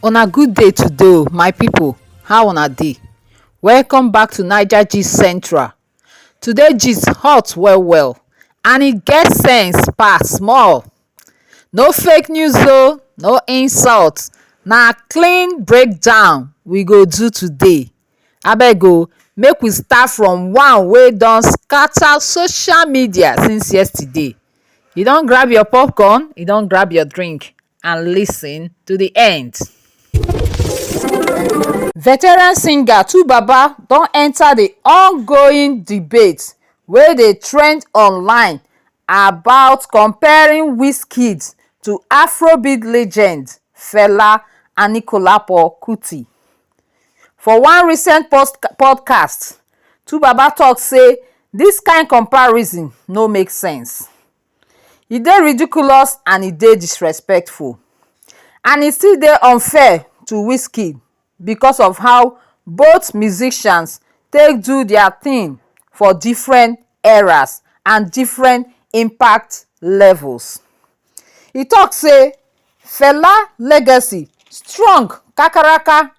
Una good day today o my people how una dey welcome back to Naija gist central today gist hot well well and e get sense pass small no fake news o no insult na clean breakdown we go do today Abeg o make we start from one wey don scatter social media since yesterday. You don grab your popcorn, you don grab your drink and lis ten to the end. Veteran singer twobaba don enter the ongoing debate wey dey trend online about comparing Wizkid to Afrobeat legend Fela Anikulapo Kuti. For one recent podcast, Twobaba talk say this kind comparison no make sense. E dey ridiculous and e dey disrespectful and e still dey unfair to Wizkid because of how both musicians take do their thing for different eras and different impact levels. E talk say Fela legacy strong kakaraka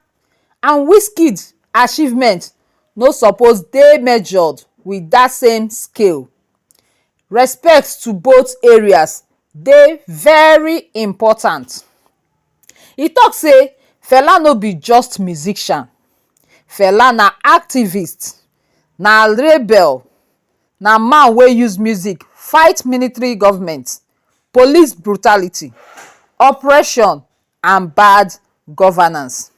and Wizkid achievement no suppose dey measured with that same scale. Respect to both areas dey very important. E talk say Fela no be just musician, Fela na activist, na rebel, Na man wey use music fight military government, police brutality, oppression and bad governance.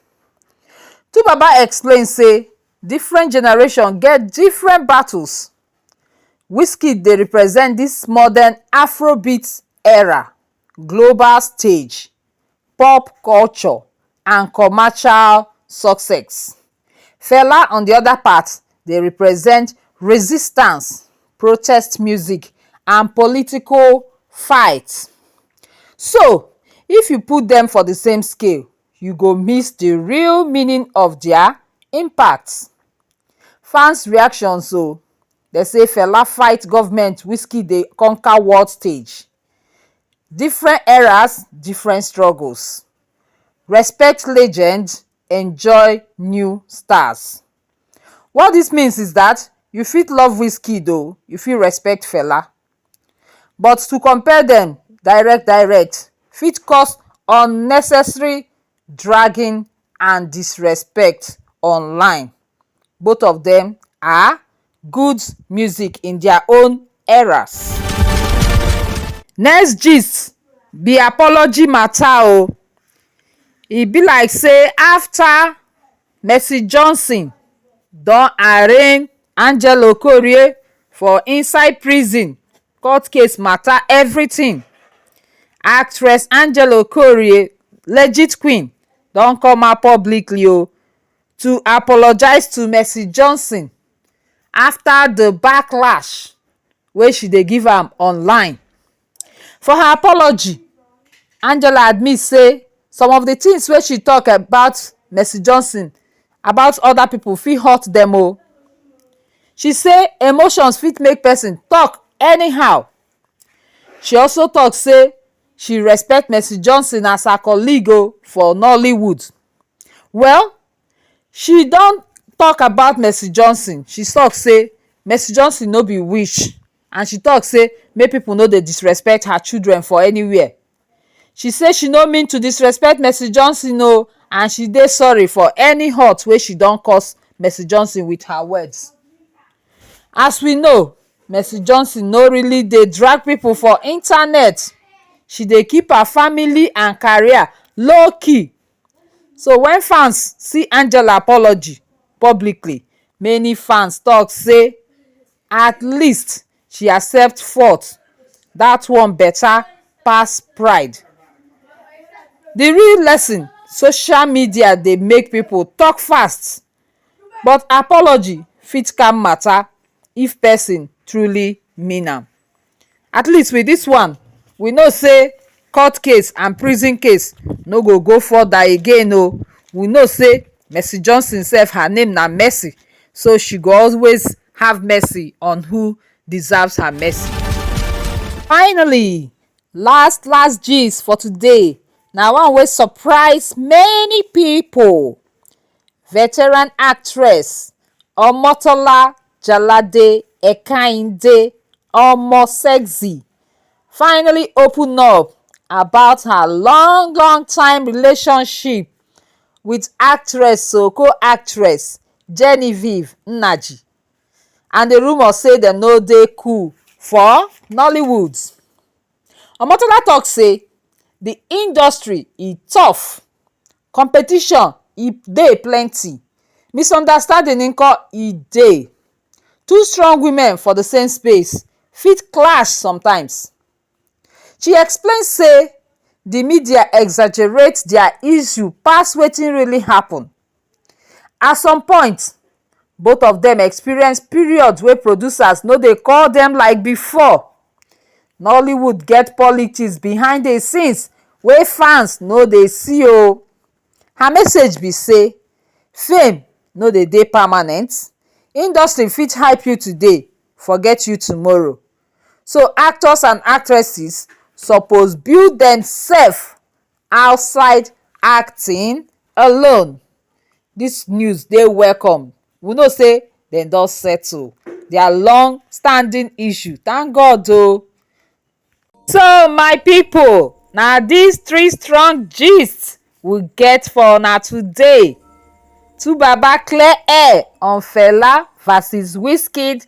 Twobaba explain sey different generation get different battles. Wizkid dey represent dis modern afrobeat era. global stage, pop culture and commercial success. Fela on the other part dey represent resistance, protest music and political fight. So if you put dem for the same scale, you go miss the real meaning of their impact. Fans reactions o, dem say Fela fight government, Wizkid dey conquer world stage. Different eras, different struggles, respect legend, enjoy new stars. What dis means is dat you fit love Wizkid o, you fit respect Fela but to compare dem direct direct fit cause unnecessary dragging and disrespect online. both of dem are good music in their own eras. Next gist be apology matter oh, e be like say after Mercy Johnson don arraign Angela Okorie for inside prison court case matter everything, actress Angela Okorie legit queen don come out publicly oh to apologise to Mercy Johnson after the backlash wey she dey give am online. For her apology, Angela admit say some of the things wey she talk about Mercy Johnson about other people fit hurt dem o. She say emotions fit make person talk anyhow. She also talk say she respect Mercy Johnson as her colleague o for Nollywood. Well, she don talk about Mercy Johnson, she talk say Mercy Johnson no be witch and she talk say make people no dey disrespect her children for anywhere. She say she no mean to disrespect Mercy Johnson o and she dey sorry for any hurt wey she don cause Mercy Johnson with her words. As we know, Mercy Johnson no really dey drag people for internet. She dey keep her family and career low key. So when fans see Angela apology publicly, many fans talk say at least she accept fault. That one better pass pride. The real lesson, social media dey make people talk fast But apology fit calm matter if person truly mean am. At least with this one, we know say court case and prison case no go go further again o. We know say Mercy Johnson sef, her name na Mercy, so she go always have mercy on who deserves her mercy. Finally, last last gist for today na one wey surprise many people. veteran actress omotola jalade ekainde omo sexy finally open up about her long long time relationship with actress um co-actress genevieve nnaji and the rumour say dem no dey cool for nollywood omotola talk say the industry e tough Competition e dey plenty, misunderstanding nko e dey, two strong women for the same space fit clash sometimes. She explain sey the media exaggerate their issue pass wetin really happen. At some point, both of dem experience periods wey producers no dey call dem like before. Nollywood get politics behind the scenes wey fans no dey see o. Her message be sey fame no dey dey permanent, industry fit hype you today forget you tomorrow so actors and actresses suppose build demsef Outside acting alone, dis news dey welcome, we know sey dem don settle dia long standing issue, thank God o. So my pipu na dis three strong gist we get for una today, twobaba clear air on Fela vs Wizkid